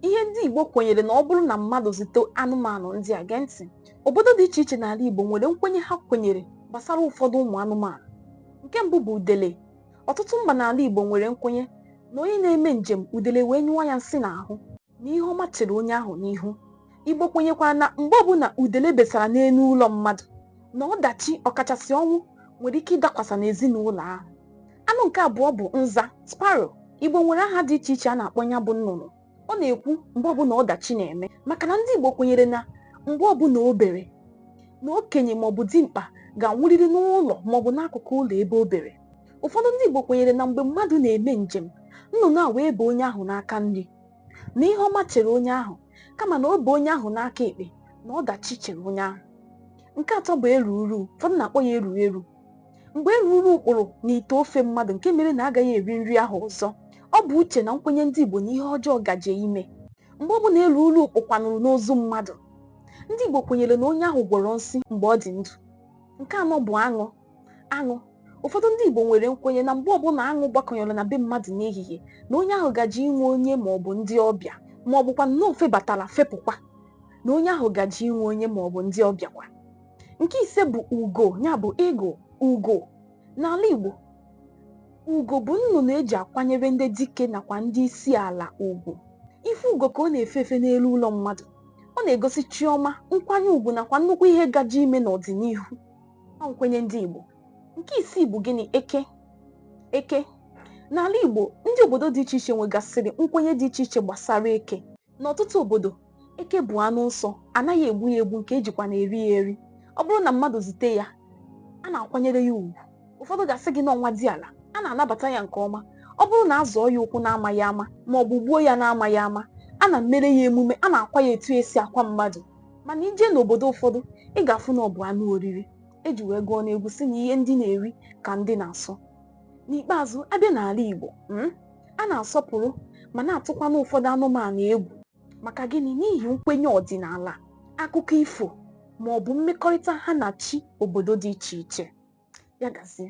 ihe ndị Igbo kwenyere na ọ bụrụ na mmadụ zute anụmanụ ndị a gee ntị obodo dị iche iche n'ala Igbo nwere nkwenye ha kwenyere gbasara ụfọdụ ụmụ anụmanụ nke mbụ bụ udele ọtụtụ mba n'ala Igbo nwere nkwenye na onye na-eme njem udele wee nyụọ ya nsị n'ahụ na ihe ọma chere onye ahụ n'ihu Igbo kwenyekwara na mgbe ọbụla udele besara n'elu ụlọ mmadụ na ọdachi ọkachasị ọnwụ nwere ike ịdakwasa n'ezinụlọ ahụ. Anụ nke abụọ bụ nza, sparrow. Igbo nwere aha dị iche iche a na-akpọ ya bụ nnụnụ. Ọ na-ekwu mgbe ọbụla ọdachi na-eme maka na ndị Igbo kwenyere na mgbe ọbụla o bere na okenye maọbụ dimkpa ga-anwụrịrị n'ụlọ maọbụ n'akụkụ ụlọ ebe o bere. Ụfọdụ ndị Igbo kwenyere na mgbe mmadụ na-eme njem, nnụnụ a wee bee onye ahụ n'aka nri. na ihe ọma chere onye ahụ kama na o bee onye ahụ n'aka ekpe na ọdachi chere onye ahụ nke atọ bụ eruru ụfọdụ na-akpọ ya eru eru mgbe eruru kpụrụ n'ite ofe mmadụ nke mere na agaghị eri nri ahụ ọzọ ọ bụ uche na nkwenye ndị Igbo na ihe ọjọọ gaje ime mgbe ọ bụla eruru kpụkwanụrụ n'ozu mmadụ ndị Igbo kwenyere na onye ahụ gwọrọ nsi mgbe ọ dị ndụ nke anọ bụ aṅụ aṅụ ụfọdụ ndị Igbo nwere nkwenye na mgbe ọbụla aṅụ gbakọnyere na be mmadụ n'ehihie na onye ahụ gaje inwe onye ma ọ bụ ndị ọbịa ma ọ bụkwa na o febatara fepụkwa na onye ahụ gaje inwe onye ma ọ bụ ndị ọbịa kwa nke ise bụ ugo ya bụ eagle ugo n'ala Igbo ugo bụ nnụnụ eji akwanyere ndị dike nakwa ndị isi ala ugwu ịfụ ugo ka ọ na-efe efe n'elu ụlọ mmadụ ọ na-egosi chiọma nkwanye ugwu nakwa nnukwu ihe gaje ime n'ọdịnihu ọ nkwenye ndị Igbo nke isii bụ gịnị eke eke n'ala Igbo ndị obodo dị iche iche nwegasịrị nkwenye dị iche iche gbasara eke n'ọtụtụ obodo eke bụ anụ nsọ anaghị egbu ya egbu nke ejikwa na-eri ya eri ọ bụrụ na mmadụ zute ya a na-akwanyere ya ugwu ụfọdụ ga-asị gị na ọ nwadiala a na-anabata ya nke ọma ọ bụrụ na a zọọ ya ụkwụ na-amaghị ama ma ọ bụ gbuo ya na-amaghị ama a na-emere ya emume a na-akwa ya etu esi akwa mmadụ mana i jee n'obodo ụfọdụ ị ga-afụ na ọ bụ anụ oriri eji wee gụọ n'egwu sị na ihe ndị na-eri ka ndị na-asọ n'ikpeazụ a bịa n'ala Igbo mm, a na-asọpụrụ ma na-atụkwana ụfọdụ anụmanụ egwu maka gịnị n'ihi nkwenye ọdịnala akụkọ ifo ma ọ bụ mmekọrịta ha na chi obodo dị iche iche ya gazie